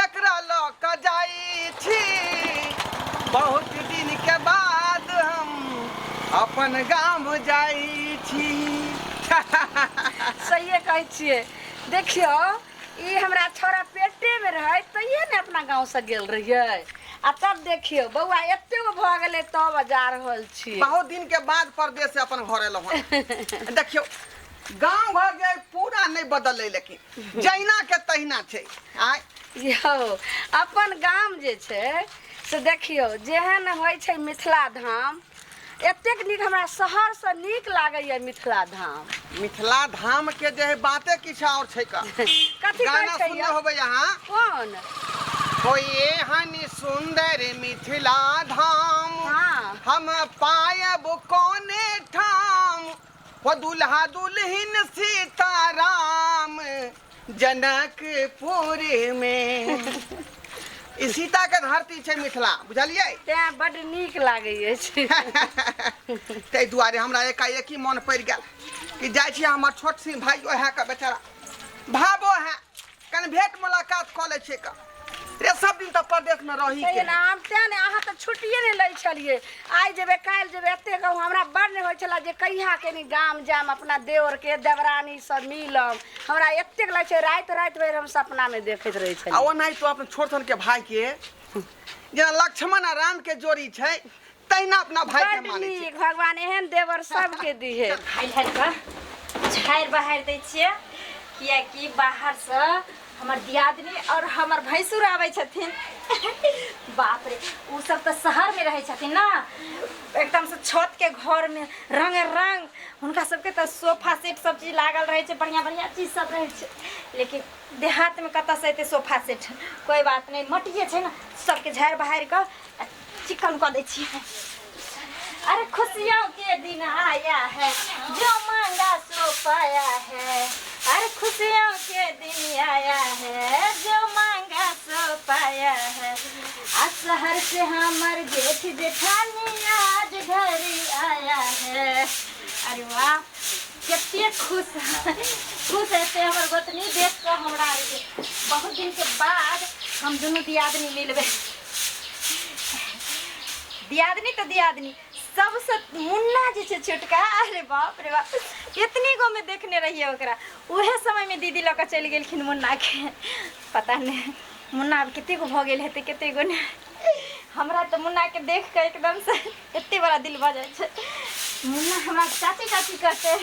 तकरा लऽ कऽ जाइ छी बहुत दिन के बाद हम अपन गाम जाइ छी सहिए कहै छियै देखियौ ई हमरा छौड़ा पेटेमे रहै तहिए ने अपना गाँवसँ गेल रहियै आ तब देखियौ बौआ एते गो भऽ गेलै तब जा रहल छियै बहुत दिन के बाद परदेश से अपन घर एलहुँ हन। देखियौ गाँव घर जे पूरा नहि बदललै लेकिन जहिना के तहिना छै आय यौ अपन गाम जे छै से देखियौ जेहन होइ छै मिथिला धाम एतेक नीक हमरा शहरसँ नीक लागैए मिथिला धाम मिथिला धाम के जे है बाते किछु और छै का कथी गाना कहै छै सुनने यौ? होबै अहाँ कोन कोई एहन सुंदर मिथिला धाम हाँ। हम पायब कोने ठाम हो दुल्हा दुल्हिन सीताराम जनकपुर में ई सीता के धरती छै मिथिला बुझलियै तें बड नीक लागै अछि ताहि दुआरे हमरा एकाएकी मन पड़ि गेल कि जाइ छी हमर छोट सी भाई ओएह के बेचारा भाबो है कनि भेट मुलाकात कऽ लै छियै का रे सब दिन तऽ परदेशमे रही तैयो के ने हम तें ने अहाँ तऽ छुट्टिए नहि लै छलियै आइ जेबै काल्हि जेबै एते कहू हमरा बड़ नहि होइ छलै जे कहिया कनि गाम जायब अपना देवरके देवरानी सब मिलब हमरा एतेक लगै छै राति राति भरि हम सपनामे देखैत रहै आ छलियै ओनाहितो अपन छोट छोटके भाइके जेना लक्ष्मण आ रामके जोड़ी छै तहिना अपना भाई के बड माने छी नीक भगवान एहन देवर सबके दिहे हाय हाय बा झाड़ि बहारि दै छियै कियाकि बाहरसँ हमर दियादनी आओर हमर भैंसुर आबै छथिन बाप रे ओ सब तऽ शहरमे रहै छथिन ने एकदमसँ छतके घरमे रंग रंग हुनका सबके तऽ सोफा सेट सब चीज लागल रहै छै बढ़िआँ बढ़िआँ चीज सब रहै छै लेकिन देहातमे कतऽसँ एतै सोफा सेट कोइ बात नहि मटिए छै ने सबके झाड़ि बहारि कऽ चिकन कऽ दै छी अरे खुशियों के दिन आया है जो मांगा सो पाया है अरे खुशियों के दिन आया है जो मांगा सो पाया है आ शहर से हमर जेठ जेठानी आज घर आया है अरे वाह कते खुश है खुश हेतै हमर गोतनी देख कऽ हमरा आरके बहुत दिनके बाद हम दुनू दियादनी मिलबै दियादनी तऽ दियादनी सबसँ मुन्ना जे छै छोटका अरे बाप रे बाप इतनी गो में देखने रहिए ओकरा उहे समय में दीदी लऽ कऽ चलि गेलखिन मुन्ना के पता नहि मुन्ना आब कते गो भऽ गेल हेतै कते गो ने हमरा तऽ मुन्ना के देख कऽ एकदम से एते बड़ा दिल भऽ जाइ छै मुन्ना हमरा चाची चाची कहते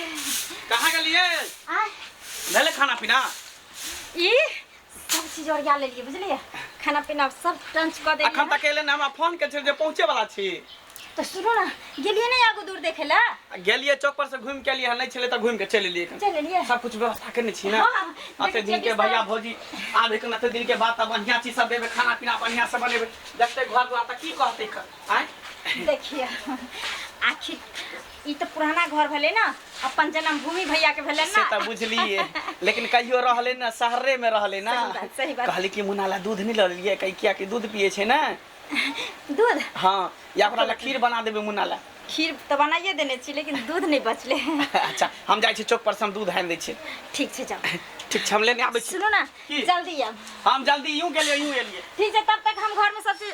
कहाँ गेलिए आ भेलै खाना पीना ई सब चीज ओरिया लेलिए बुझलिए खाना पीना सब टंच क देलिए अखन तक एले ना हमरा फोन के छै जे पहुंचे वाला छी तो सुनो ना गेलिए नहीं आगू दूर देखे ला गेलिए चौक पर से घूम के लिए नहीं छले त घूम के चले लिए चल लेलिए सब कुछ व्यवस्था करने छी ना हाँ, अते देखिए दिन के बिस्तर- भैया भौजी आब एक अते दिन के बाद त बढ़िया चीज सब देबे खाना पीना बढ़िया से बनेबे देखते घर दुआर त की कहते कर आय देखिए आखिर ई तऽ पुराना घर भेलै ने अपन जन्मभूमि भैया के भेलै से तऽ बुझलिए लेकिन कहियो रहले ना शहरे में रहले ना सही बात, सही बात। कहली कि मुन्ना ला दूध नहीं ललिए कही किया कि दूध पिए छे ना दूध हाँ या ओकरा ला खीर बना देबे मुन्ना ला खीर तऽ बनाइए देने छी लेकिन दूध नहि बचले अच्छा हम जाइ छी चौक पर से हम दूध आनि दै छी ठीक छै जाओ ठीक छै हम लेने आबै छी सुनू ने की? जल्दी आब हम जल्दी यूं गेलिए यूं एलिए ठीक छै तब तक हम घर में सब चीज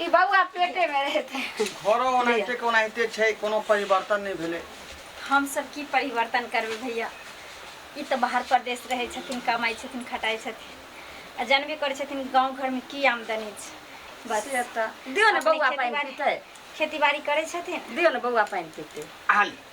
ई बौआ पेटे में रहते घरो ओनाहिते के ओनाहिते छै कोनो परिवर्तन नहि भेलै हम सब की परिवर्तन करबै भैया ई तऽ बाहर प्रदेश रहै छथिन कमाइ छथिन खटाइ छथिन आ जानबे करै छथिन गाँव घरमे की आमदनी छै बस से तऽ दियौ ने अपने बौआ पानि खेतीबाड़ी- पीतै खेती बाड़ी करै छथिन दियौ ने बौआ पानि पीतै आली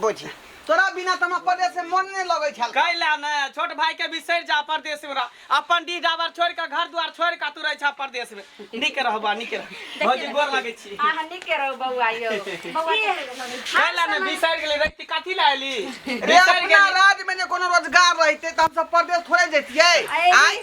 बुझी तोरा बिना तमा पड़े से मन नहीं लगे छल कैला ने छोट भाई के बिसर जा परदेश में रह अपन डी डाबर छोड़ के घर द्वार छोड़ के तू रह छा परदेश में निक रहबा निक रह भौजी गोर लगे छी अहाँ नीके रहू बौआ यौ बौआ कैला ने बिसर गेली रखती कथी ला एली रे बिसर अपना गेली राज में जे कोनो रोजगार रहते त हम सब परदेश थोड़े जतिए आय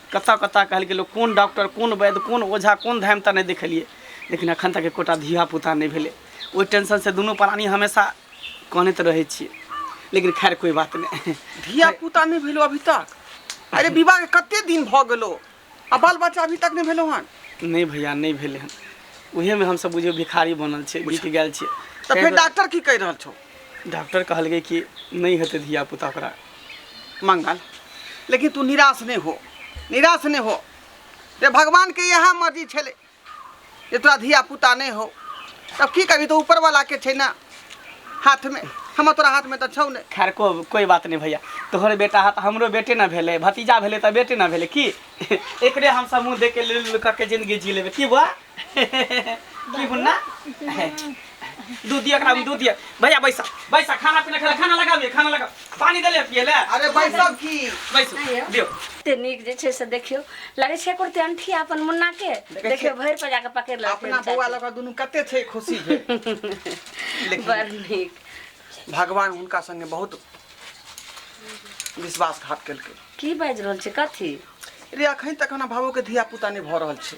कतऽ कतऽ कहलकै लोक कोन डॉक्टर कोन वैद्य कोन ओझा कोन धाम तऽ नहि देखेलियै लेकिन अखन तक एकोटा धिया पुता नहि भेलै ओहि टेंशन से दुनू प्राणी हमेशा कानैत रहै छियै लेकिन खैर कोई बात नहि धिया पुता नहि भेलो अभी तक अरे विवाह के कते दिन भऽ गेलो आ बाल बच्चा अभी तक नहि भेलो हन नहि भैया नहि भेलै हन उहेमे हमसभ बुझियौ भिखारी बनल छै बिक गेल छै तऽ फेर डॉक्टर की कहि रहल छौ डॉक्टर कहलकै कि नहीं हेतै धिया पुता ओकरा मंगल लेकिन तू निराश नहीं हो निराश नहीं हो रे भगवान के यह मर्जी छे जे तोरा धिया पुता नहीं हो तब की कभी तो ऊपर वाला के छे ना हाथ में हम तोरा हाथ में तो छौ ने खैर को कोई बात नहीं भैया तोहर बेटा हाथ हमरो बेटे ना भेले भतीजा भेले तो बेटे ना भेले की एकरे हम सब मुंह देख के ले ले करके जिंदगी जी लेबे की बुआ की हुन्ना दूध दिया करा दूध दिया भैया बैसा बैसा खाना पीना खा खाना लगा दिया खाना लगा पानी दे ले पिए ले अरे बैसा की बैसो दियो ते नीक जे छै से देखियो लगे छै कुर्ते अंठी अपन मुन्ना के देखियो भर पर जाके पकड़ ले अपना बौआ लगा दुनु कते छै खुशी है बड़ नीक भगवान उनका संगे बहुत विश्वासघात केलकै की बाजि रहल छै कथी रे अखन तक हमरा भावो के धिया पुता नहि भऽ रहल छै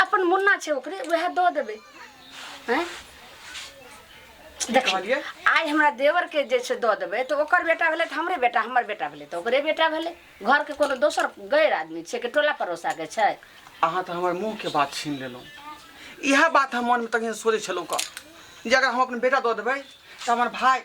अपन मुन्ना छै ओकरे वएह दऽ देबै हैं देखिए कहलियै? आइ हमरा देवर के जे छै दऽ देबै तऽ ओकर बेटा भेलै तऽ हमरे बेटा हमर बेटा भेलै तऽ ओकरे बेटा भेलै घर के कोनो दोसर गैर आदमी छै कि टोला पड़ोसा के छै अहाँ तऽ हमर मुँह के बात छीन लेलहुँ इएह बात हम मन में तखन सोचै छलहुँ कऽ जे अगर हम अपन बेटा दऽ देबै तऽ हमर भाय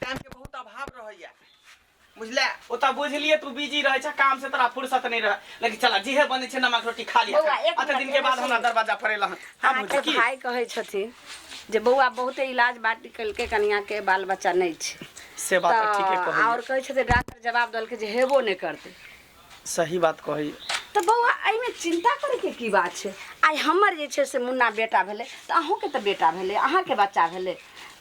टाइम के बहुत अभाव रहैया बुझले ओ तऽ बुझलिए तू बिजी रहै छै काम से तोरा फुर्सत नहि रह लेकिन चला जेहे बने छै नमक रोटी खा लिया बौआ, एक अते मिनट, दिन के एक बाद मिनट। हमरा दरवाजा पर एला हन हाँ अहाँके भौजी की भाय कहै छथिन जे बौआ बहुते इलाज बाटी कलके कनिया के बाल बच्चा नहि छै से बात तऽ ठीके तऽ कहै आओर कहै छथिन डॉक्टर जवाब देलकै जे हेबो नहि करतै सही बात कहै तऽ बौआ एहिमे चिन्ता करैके की बात छै आइ हमर जे छै से मुन्ना बेटा भेलै तऽ अहूँके तऽ बेटा भेलै अहाँके बच्चा भेलै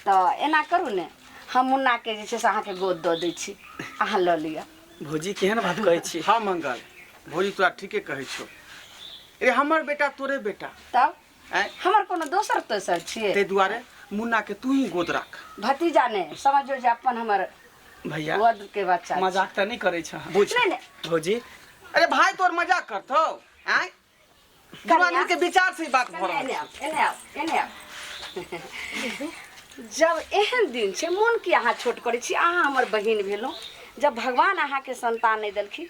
तऽ एना करू ने हम मुन्नाके जे छै से अहाँके गोद दऽ दै छी अहाँ लऽ लिअ भौजी केहन बात कहै छी हँ मंगल भौजी तोरा ठीके कहै छौ ए हमर बेटा तोरे बेटा तब आँय? हमर कोनो दोसर तेसर छियै ताहि दुआरे मुन्ना के तू ही गोद राख भतीजा ने समझो जे अपन हमर भैया वध के बच्चा छै। मजाक तऽ नहि करै छह बुझ नहि नहि भौजी अरे भाय तोर मजाक करतौ आय दुनू आदमी के विचार से ई बात भऽ रहल एने छै आउ, एने आउ, एने आउ। जब एहन दिन छै मोन की अहाँ छोट करै छी अहाँ हमर बहिन भेलहुँ जब भगवान अहाँके संतान नहि देलखिन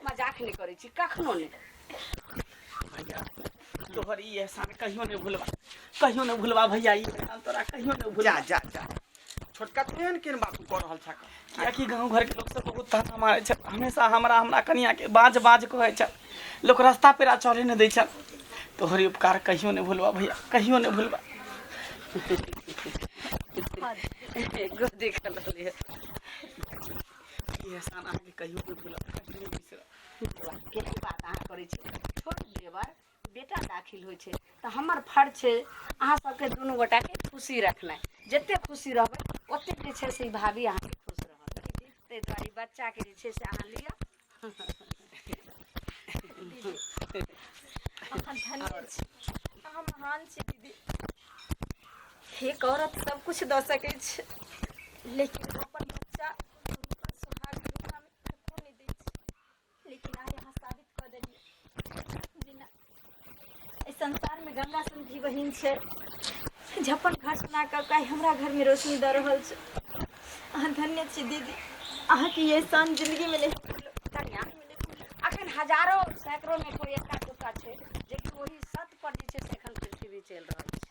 मजाक नहि करै छी कखनो नहि भैया तोहर ई एहसान कहियो नहि भूलबा कहियो नहि भूलबा भैया ई एहसान तोरा कहियो नहि भूलबा जा जा जा छोटका तू एहन केहन बात कऽ रहल छा कियाकि गाँव घरके लोक सब बहुत ताना मारै छै हमेशा हमरा हमरा कनियाके बाज बाज कहै छै लोक रास्ता पेरा चढ़े नहि दै छै तोहर ई उपकार कहियो नहि भूलबा भैया कहियो नहि भूलबा गोदी खा लेलियै ई एहसान अहाँके कहियो नहि भूलब कहियो नहि बिसरब के बात अहाँ करै छी छोट देवर बेटा दाखिल होइ छै तऽ हमर फर्ज छै अहाँ सबके दुनू गोटाके खुशी रखनाइ जते खुशी रहबै ओतेक जे छै से ई भाभी अहाँके खुश रहत ताहि दुआरे ई बच्चाके जे छै से अहाँ लिअ अखन धन्य छी अहाँ महान छी दीदी हे औरत सब कुछ दऽ सकै छै लेकिन अपन बच्चा हुनकर सुहाग दुनिया में कखनो नहि दै छै लेकिन आइ अहाँ साबित कऽ देलियै जे नहि एहि संसारमे गंगा सन भी बहिन छै जे अपन घर सुना कऽ काहे हमरा घरमे रोशनी दऽ रहल छै अहाँ धन्य छी दीदी अहाँके ये सन जिंदगीमे नहि कन्या अखन हजारो सैकड़ोमे कोइ एका दुका छै जेकि ओहि सत पर जे छै से एखन पृथ्वी चलि रहल छै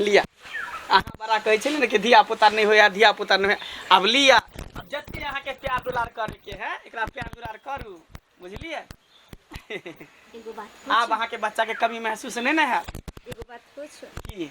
लिया अहाँ बड़ा कहै छलियै ने कि धिया पुता नहि होइया धिया पुता नहि होइया आब लिया आब जते अहाँके प्यार दुलार करैके है एकरा प्यार दुलार करू बुझलियै एगो बात आब अहाँके बच्चाके कमी महसूस नहि ने हैत एगो बात पूछो की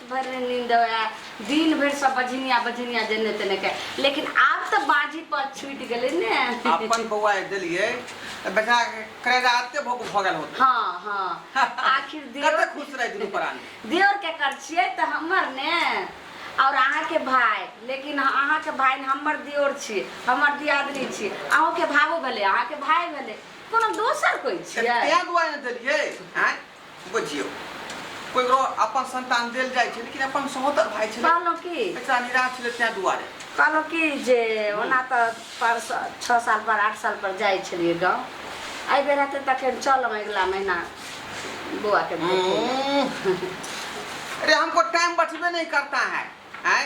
भरि नहि नींद आए दिन भरि सब बझिनिया बझिनिया जेने तेने के लेकिन आब तऽ बाजी पर छूटि गेलै ने अपन बौआ जे देलियै तऽ बेटा करेजा आते भऽ भऽ गेल होत हाँ हाँ आखिर कते देवर खुश रहै दुनू प्राणी देवर के कर छियै तऽ हमर ने और अहाँ के भाय लेकिन अहाँ के भाय ने हमर देवर छी हमर दियादनी छी अहूँ के भावो भेलै अहाँ के भाय भेलै कोनो दोसर कोई तऽ छियै तें दुआरे ने देलियै आँय बुझियौ कोइकरो अपन संतान देल जाइ छै लेकिन अपन सहोदर भाई छलै कहलहुँ की एकरा निराश छलै तैं दुआरे कहलहुँ कि जे ओना तऽ पर छओ साल पर आठ साल पर जाइ छलियै गाँव एहि बेर हेतै तऽ अखन चलब अगिला महीना बौआ के देखै लए। हम्म। अरे हमको टाइम बचबे नहीं करता है हैं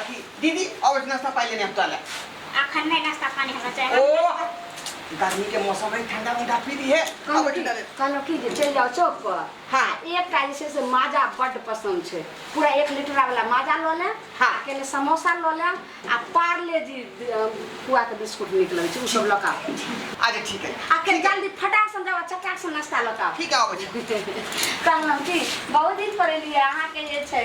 अभी दीदी और नाश्ता पाई लेने हम तो अलग अखन नहीं नाश्ता पानी हमरा चाहे ओ गर्मी के मौसम में ठंडा ठंडा पी दी है अब ठंडा दे कहलहुँ कि जे चलि जाउ चौक पर हाँ। आ एकटा जे छै से माजा बड्ड पसन्द छै पूरा एक लीटरा वाला माजा लऽ लेब हाँ। आ कने समोसा लऽ लेब आ पार्ले जी पुआ के बिस्कुट नीक लगै छै ओ सब लऽ कऽ आउ। अच्छा ठीक है आ कनि जल्दी फटाक सन जाउ आ चटाक सन नाश्ता लऽ कऽ आउ। ठीक है आओ बच्चा कहलहुँ कि बहुत दिन पर एलियै अहाँके जे छै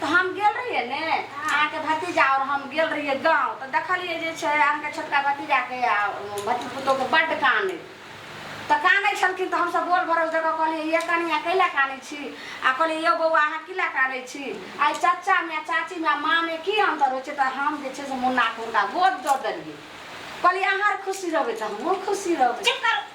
तऽ हम गेल रहियै ने अहाँके भतीजा आओर हम गेल रहियै गाँव तऽ देखलियै जे छै अहाँके छोटका भतीजाके आ भती पुतोहके बड्ड कानै तऽ कानै छलखिन तऽ हमसभ बोल भरोस दऽ कऽ कहलियै ये कनिया कैला कानै छी आ कहलियै यौ बौआ अहाँ किला कानै छी आ ई चाचामे आ चाचीमे आ माँमे की अन्तर होइ छै तऽ हम जे छै से मुन्नाके हुनका गोद दऽ देलियै कहलियै अहाँ आर खुशी रहबै तऽ हमहूँ खुशी रहबै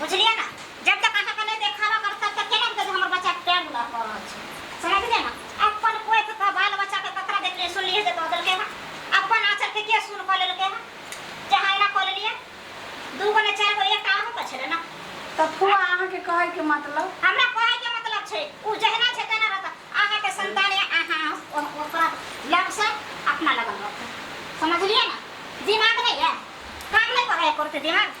बुझलियै ने जब तक अहाँ के नहि देखावा करत तब तक केना बुझत जे हमर बच्चा के टाइम लग पड़ रहल छै समझलियै ने अपन कोख के बाल बच्चा के ककरा देखलियै सुनलियै जे दऽ देलकै हँ अपन आचर के के सुन कऽ लेलकै हँ जे अहाँ एना कऽ लेलियै दू गो ने चारि गो एकटा अहूँ के छलै ने तऽ फुआ अहाँ के कहै के मतलब हमरा कहै के मतलब छै ओ जहिना छै तेना रहत अहाँ के संतान या अहाँ ओ- ओकरा लग से अपना लगन रखू समझलियै ने दिमाग नहीं है काम नहीं करे है करते दिमाग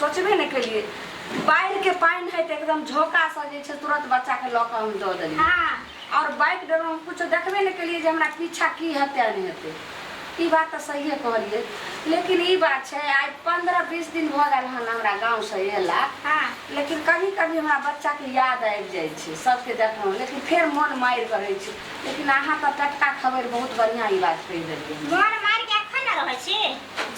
सोचबे नहि केलिए बाढ़ि के पानि है तऽ एकदम झोका से जे छै तुरंत बच्चा के लऽ कऽ हम दऽ देलिए हाँ और बाइक डर हम कुछ देखबे नहि केलिए जे हमरा पीछा की हेतै आ नहि हेतै ई बात तऽ सहिए कहलिए लेकिन ई बात छै आइ पंद्रह बीस दिन भऽ गेल हन हमरा गाँव से एला हाँ लेकिन कभी कभी हमरा बच्चा के याद आबि जाइ छै सबके देखलहुँ लेकिन फेर मन मारि कऽ रहै छै लेकिन अहाँ तऽ टटका खबर बहुत बढ़िआँ ई बात कहि देलिए मोन मारि के एखन ने रहै छी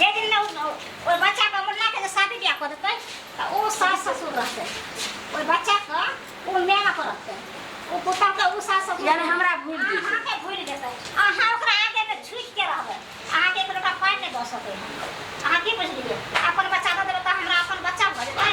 जे दिन ओहि बच्चाके मुन्नाके जे शादी बियाह कऽ देतै तऽ ओ सास ससुर रहतै ओहि बच्चाके ओ मेहनत करतै ओ पुतहके ओ सास ससुर यानी हमरा भूल जेतै। अहाँके भूलि जेतै अहाँ ओकरा आगेमे झुकिके रहबै अहाँके एक लोटा पानि नहि दऽ सकै अहाँ की बुझलियै अपन बच्चा दऽ देबै तऽ हमरा अपन बच्चा भऽ जेतै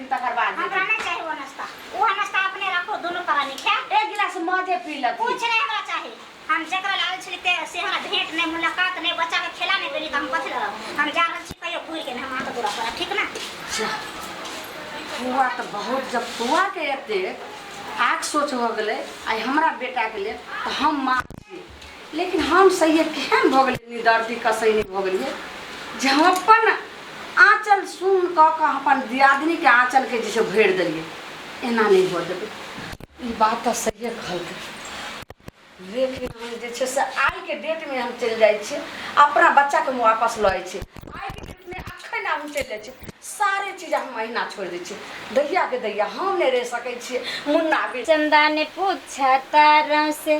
तकर बाद हमरा देखी। नहीं चाहिए वो नाश्ता वो नाश्ता अपने रखो दोनों प्राणी क्या एक गिलास मजे पी लगी कुछ नहीं हमरा चाहिए हम जकरा लाल छी ते से हमरा भेंट नहीं मुलाकात नहीं बच्चा के खेला नहीं देली त हम कथि लड़ब हम जा रहल छी कहियो घूर के हम आके दूरा पर ठीक ना फुआ तऽ बहुत जब फुआ के एते आग सोच हो गेलै आइ हमरा बेटा के लेल तऽ हम माँ छी लेकिन हम सैये केहन भऽ गेलियै निदर्दी कसैनी भऽ गेलियै जे हम अपन आँचल सुन कऽ कऽ हम अपन दियादिनीके आँचलके जे छै भरि देलियै एना नहि भऽ देबै ई बात तऽ सहिए कहलकै लेकिन हम जे छै से आइके डेटमे हम चलि जाइ छियै अपना बच्चाके हम वापस लऽ जाइ छियै आइके डेटमे अखन हम चलि जाइ छियै सारे चीज हम अहिना छोड़ि दै छियै दैयाके दैया हम नहि रहि सकै छियै मुन्ना भी चंदा ने पूछा तारा से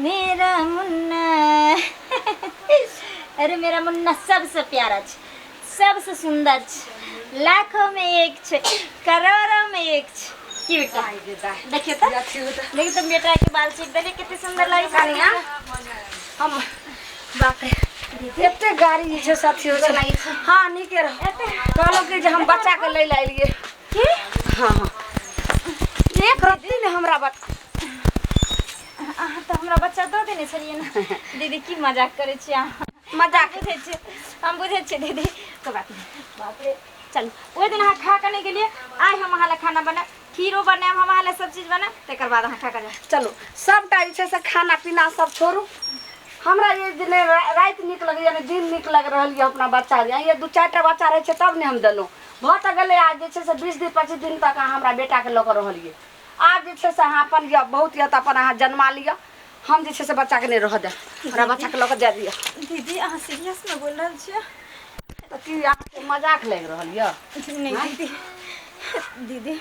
मेरा मुन्ना अरे मेरा मुन्ना सबसे प्यारा छ सबसे सुंदर छ लाखों में एक छ करोड़ों में एक छ की बेटा देखियो तो देखियो तो बेटा के बाल चीर देले कितने सुंदर लगे कनिया हम बाप रे एते गाड़ी जे छै साथी हो छै हाँ नीके रह कहलो कि जे हम बच्चा के ले ला एलिए की हाँ हाँ एक रत्ती ने हमरा बच्चा अहाँ तऽ हमरा बच्चा दऽ देने छलियै ने दीदी की मजाक करै छी अहाँ मजाक बुझै छियै हम बुझै छियै दीदी कोइ बात नहि बाप रे चलू ओहि दिन अहाँ खा कऽ नहि गेलियै आइ हम अहाँ लए खाना बनायब खीरो बनायब हम अहाँ लए सब चीज बनायब तकर बाद अहाँ खा कऽ जायब चलू सबटा जे छै से खाना पीना सब छोड़ू हमरा ये जे नहि रा- राति नीक लगैए ने दिन नीक लागि रहल यए अपना बच्चा जे ये दू चारि टा बच्चा रहै छै तब ने हम देलहुँ भऽ तऽ गेलै आ जे छै से बीस दिन पच्चीस दिन तक अहाँ हमरा बेटाके लऽ कऽ रहलियै आब जे छै से अहाँ अपन यऽ बहुत यऽ तऽ अपन अहाँ जन्मा लिअ हम जे छै से बच्चाके नहि रहऽ देब हमरा बच्चाके लऽ कऽ जाय दिअ दीदी अहाँ सीरियसमे बोल रहल छियै तऽ की अहाँके मजाक लागि रहल यऽ नहि दीदी दीदी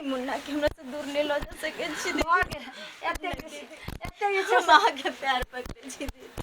मुन्नाके हमरा से दूर नहि लऽ जा सकै छी दीदी एते एते जे छै से अहाँके पैर पकड़ै छी दीदी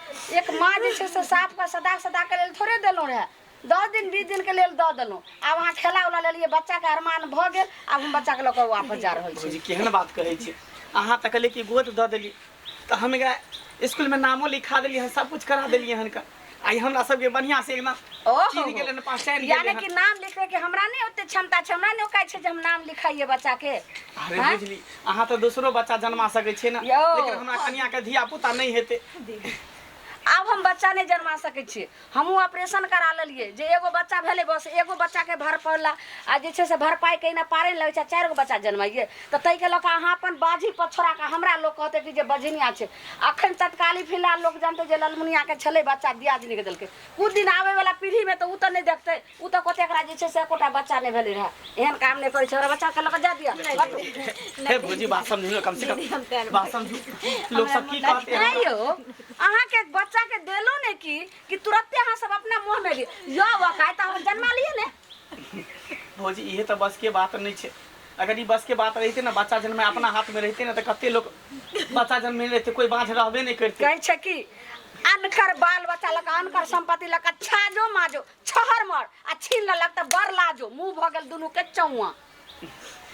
एक माँ जे छै से साफके सदा सदाके लेल थोड़े देलहुँ रहए दस दिन बीस दिनके लेल दऽ देलहुँ आब अहाँ खेला उला लेलियै बच्चाके अरमान भऽ गेल आब हम बच्चाके लऽ कऽ वापस जा रहल छी जी केहन बात कहै छी अहाँ तऽ कहलियै कि गोद दऽ देलियै तऽ हम एकरा इसकुलमे नामो लिखा देलियै हन सब कुछ करा देलियै हन का आइ हमरा सबके बढ़िआँ से एकदम ओहो। चीन गेलै ने पहचान गेलै यानी हन। कि नाम लिखैके हमरा नहि ओते क्षमता छै हमरा नहि ओकाइ छै जे हम नाम लिखाइए बच्चाके अरे आँय? बुझली अहाँ तऽ दोसरो बच्चा जन्मा सकै छियै ने यौ। लेकिन हमरा कनियाके धिया पुता नहि हेतै आब हम बच्चा नहि जन्मा सकै छियै हमहूँ ऑपरेशन करा लेलियै जे एगो बच्चा भेलै बस एगो बच्चाके भरपौला आ जे छै से भरपाइ कहिना पारे नहि लगै छै चारि गो बच्चा जन्माइए तऽ ताहिके लऽ कऽ अहाँ अपन बाजी पछोड़ाके हमरा लोक कहतै कि जे बजनिया छै अखन तत्काली फिलहाल लोक जानतै जे ललमुनियाके छलै बच्चा दियादनीके देलकै किछु दिन आबैवला पीढ़ीमे तऽ ओ तऽ नहि देखतै उ तऽ कहते एकरा जे छै से एकोटा बच्चा नहि भेलै रहै एहन काम नहि करै छै ओकरा बच्चा के लऽ कऽ जा दिअ हटू। हे भौजी बात समझू ने कम से दीदी हम तैर कम बात समझू लोक सब की हमरा कहते नहि यौ अहाँके बच्चा के देलो ने की कि तुरते अहाँ सब अपना मुंह में ली यौ वकाय तऽ हम जन्मा लिए ने भौजी इहे तऽ बस के बात नहि छै अगर ई बस के बात रहिते ने बच्चा जन्म अपना हाथ में रहिते ने तऽ कते लोग बच्चा जन्म नहि रहिते कोई बाँझ रहबे नहि करते कहै छै कि अनकर बाल बच्चा लऽ कऽ अनकर संपत्ति लऽ कऽ छाजो माजो छहर मर आ छीन लेलक तऽ बड़ लाजो मुंह भऽ गेल दुनू के चौआ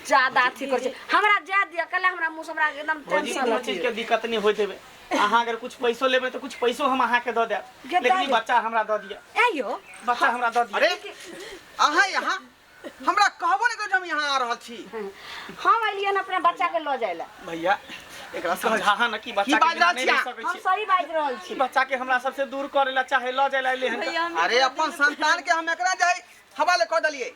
ज्यादा अथी कर छै हमरा जाय दिया कल हमरा मुंह से हमरा एकदम भौजी टेंशन कोनो चीज के दिक्कत नहीं होइत हेबे अहाँ अगर कुछ पैसो लेबे तो कुछ पैसो हम अहाँ के दऽ देब जे लेकिन दऽ ई देब। बच्चा हमरा दऽ दिअ ए यो बच्चा हमरा दऽ दिअ अरे अहाँ यहाँ हमरा कहबो नहीं करी हम यहाँ आ रहल छी हम अलियन अपना बच्चा के लो जाए ला भैया एकरा समझा है ना कि बच्चा की के बिना बात नहीं रह छिया? सकै हम छी सही बात रहल छी बच्चा के हमरा सबसे दूर करे ला चाहे ल जाए ला ले हन भैया हम अरे अपन संतान के हम एकरा जाए हवाले कह दलिए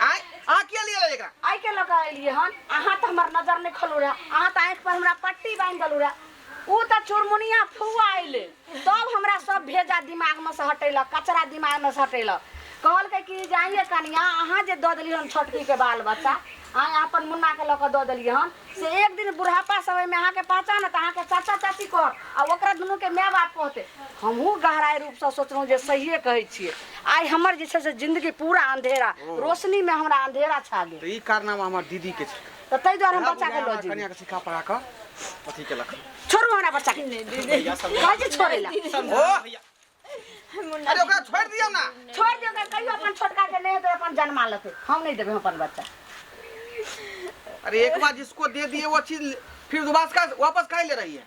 आय आ के लिए ले एकरा आई के लगा अलिए हन अहाँ तो हमार नजर नहीं खलू रहा अहाँ तो आँख पर हमरा पट्टी बांध दलू रहा ऊ तऽ चुरमुनिया फुआ अइले तब हमरा सब भेजा दिमाग में से हटेलक कचरा दिमाग में से हटेलक कहलकै कि जाइए कनिया अहाँ जे दऽ देलियै हन छोटकी के बाल बच्चा अहाँ अपन मुन्ना के लऽ कऽ दऽ देलियै हन से एक दिन बुढ़ापा समय में अहाँके पहचान है तऽ अहाँके चाचा चाची कहत आ ओकरा दुनू के माय बाप कहते हमहूँ गहराई रूप से सोचलहुँ जे सहिए कहै छियै आइ हमर जे छै से जिंदगी पूरा अंधेरा रोशनी में हमरा अंधेरा छा गेल तऽ ई कारनामा हमर दीदीके छै तऽ ताहि दुआरे हम बच्चा के लऽ जेबै कन्या के सिखा पढ़ा कऽ अथी केलक छोड़ू हमरा बच्चा के भैया सब कहै छै छोड़ै लए ओ भैया अरे ओकरा छोड़ दियौ ना छोड़ दियौ ओकरा कहियो अपन छोटका के नहि हेतै अपन जन्मा लेतै हम नहि देबै अपन बच्चा अरे एक बार जिसको दे दिए वो चीज फिर दोबारा से वापस काहे ले रही है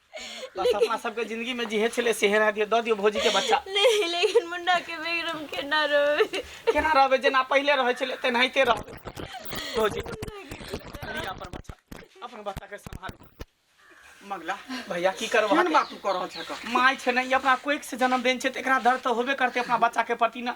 तो सपना सबके जिंदगी में जिहे छले से हेरा दियो द दियो भौजी के बच्चा नहीं लेकिन मुन्ना के बेगरम के ना रहे केना रहबे जेना पहिले रहै छले तेनाहिते रहबे भौजी ली अपन बच्चा अपन बच्चा के संभालू मंगला भैया की करबो केहन बात तू कर रहल छक माय छै ने ई अपना कोइक से जन्म देन छै त एकरा दर्द त होबे करते अपना बच्चा के प्रति ना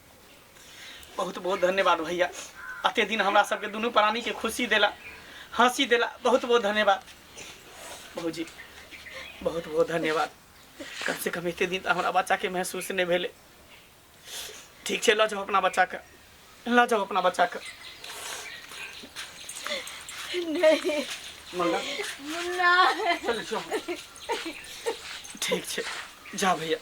बहुत बहुत धन्यवाद भैया अते दिन हमरा सबके दुनू प्राणी के खुशी देला हंसी देला बहुत बहुत धन्यवाद भौजी बहुत बहुत धन्यवाद कम से कम एते दिन तऽ हमरा बच्चा के महसूस नहि भेलै ठीक छै लऽ जाउ अपना बच्चा के लऽ जाउ अपना बच्चा के नहीं मंगा मुन्ना चल जाउ ठीक छै जा भैया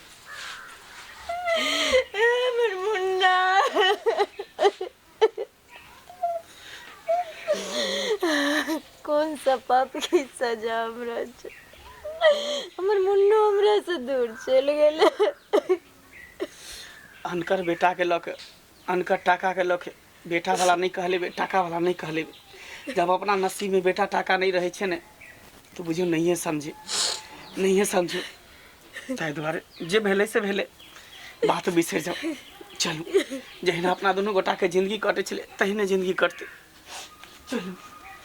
कोन सा पाप की सजा हमरा छै हमर मुन्नो हमरा से दूर चलि गेलै अनकर बेटाके लऽ के अनकर टाकाके लऽ के बेटा वाला नहि कहले टाका वाला नहि कहले जब अपना नसीब में बेटा टाका नहीं रहे छे ने तो बुझियो नहीं समझे नहीं समझे ताहि दुआरे जे भेले से भेले बात बिसर जाओ चलू जहिना अपना दुनू गोटाके जिंदगी कटे छले तहिने जिंदगी कटते चलू